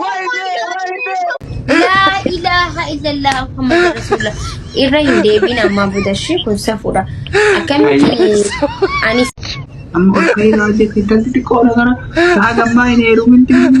Wayne, wayne. Laa ilaaha illallah Muhammad Rasuulullah. Irra hin deebiin ammaa booda ishee kun safuudha. Akkamitti ani Amma akka ilaa jetti intalti xiqqoodha kana. Haa gammaa hin heerumin deemu.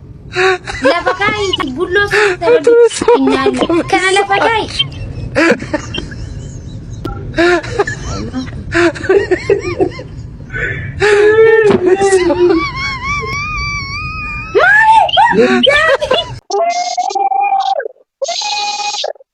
Lafa kaa'iiti bulloo keessa rabbi hin nyaanne. Kana lafa kaa'i.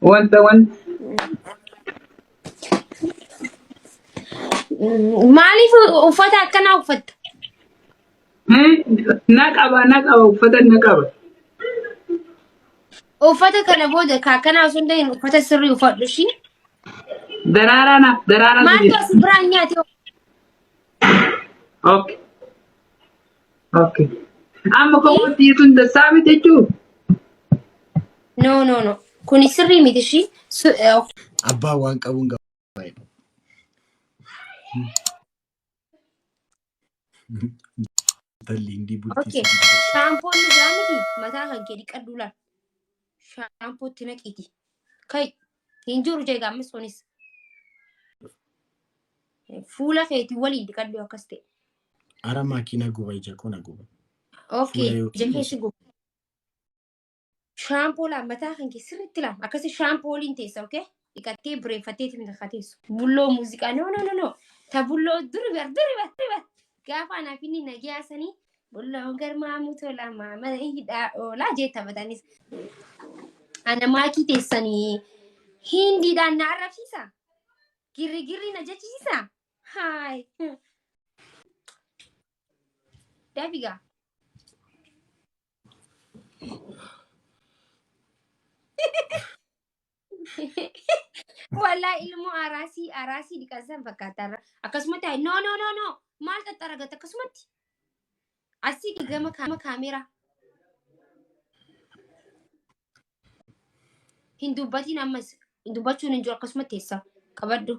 Wanta wanta. Maaliif uffata akkanaa uffatta? Eh, Na qaba na qaba uffata na qaba. Uffata kana booda ka akkanaa osoo hin ta'in uffata sirrii uffadhu ishii. Daraaraa naaf daraaraa Maaltu sirrii. as biraan nyaate? Okay. Okay. Amma komooti jechuun dassaa miti jechuun. No no no. Kuni sirrii miti ishii. Su- eh, ok. Abbaan waan qabuun gaba. Talli hindi bultii Okay. si bultii. Shaampoon dhugaa miti mataa kan kee dhiqadhu laal. shaampuu itti naqiiti. Kai hin jiru jeega ammas sunis. Fuula keeti waliin dhiqadhu akkas ta'e. Ara makiina guba ija koo na guba. Okay, Fuula yookiin ija keessa guba. Shaampoo laam mataa kan kee sirriitti laam akkasi shaampoo waliin teessa okay? dhiqattee bireeffattee itti hin teessu. Bulloo muuziqaa no no no no ta bulloo duri bar duri bar duri bar gaafa anaaf inni nagiyaa sanii bulloo garmaamuu tolaa maamala hidhaa oolaa jee taphatanis. Ana maakii teessanii hindiidhaan na arrabsiisa. Girri girri na jechisiisa. Haay. Dafigaa. Walaa ilmoo araasii araasii dhiqansan fakkaataarra akkasumatti hayi no no no no maal xaxxaragata akkasumatti asii gama kaama kaameeraa hin dubbatiin ammas hin dubbachuun hin jiru akkasumatti teessa qabadhu.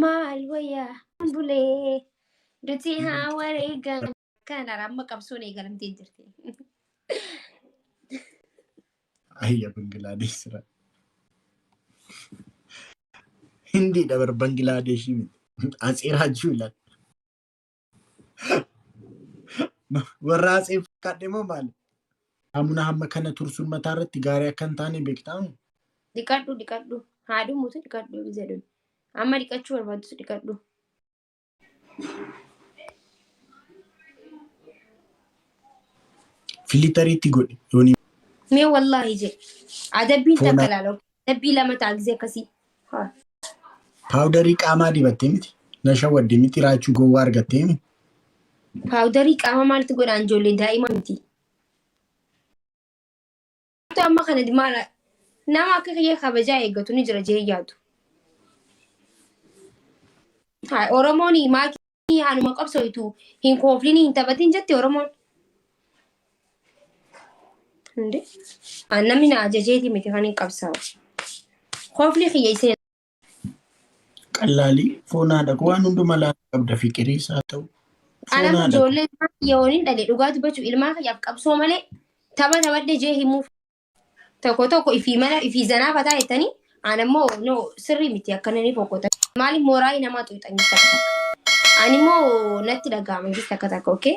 Maal wayyaa bulee dutii haa wareegan kanara amma qabsoon eegalamtee jirti. Ayya Bangilaadesh sira. Hindiidha bar Bangilaadesh miti. Atsee Raajuu ilaali. Warra haasa'e fakkaadhe moo maali? Saamunaa hamma kana tursuun mataa irratti gaarii akka hin taane beektaa? Dhiqadhu dhiqadhu. Haa dhumutu dhiqadhu hin jedhun. Amma dhiqachuu barbaadus dhiqadhu. Filitariitti godhi. Yooni Mee wallaahi jedhe. Adabbiin Foona. takka ilaala. Dabbii lama ta'a gisee akkasii. Haa. Paawudarii qaamaa dibattee miti. Na shawwadde miti raachuu gowwaa argattee miti. Paawudarii qaama maaltu godhaan ijoollee daa'ima miti. Maaltu amma kana maala nama akka kiyya kabajaa eeggatu ni jira jee yaadu. Haa Oromoon maakii Oromoon haaluma qabsooytu hin kooflinii hin taphatiin jetti Oromoon. Inde an namni na ajajeeti miti kan hin qabsaa'u. Koofli kiyya isee Qallaalii foon haadha koo waan hunduma laata qabda fiqiriis haa ta'u. Foon anama haadha koo. ijoollee ilmaa kiyya waliin dhale dhugaa dubbachuu ilmaa kiyyaaf qabsoo malee tapha taphadhe jee himuuf Tokko tokko ifii mana ifii zanaa fataa jettanii aan ammoo no sirrii miti akkananii boqota. Maali mooraa namaa xuuxanii takka takka. Ani immoo natti dhaga'ama jechuudha takka takka okay.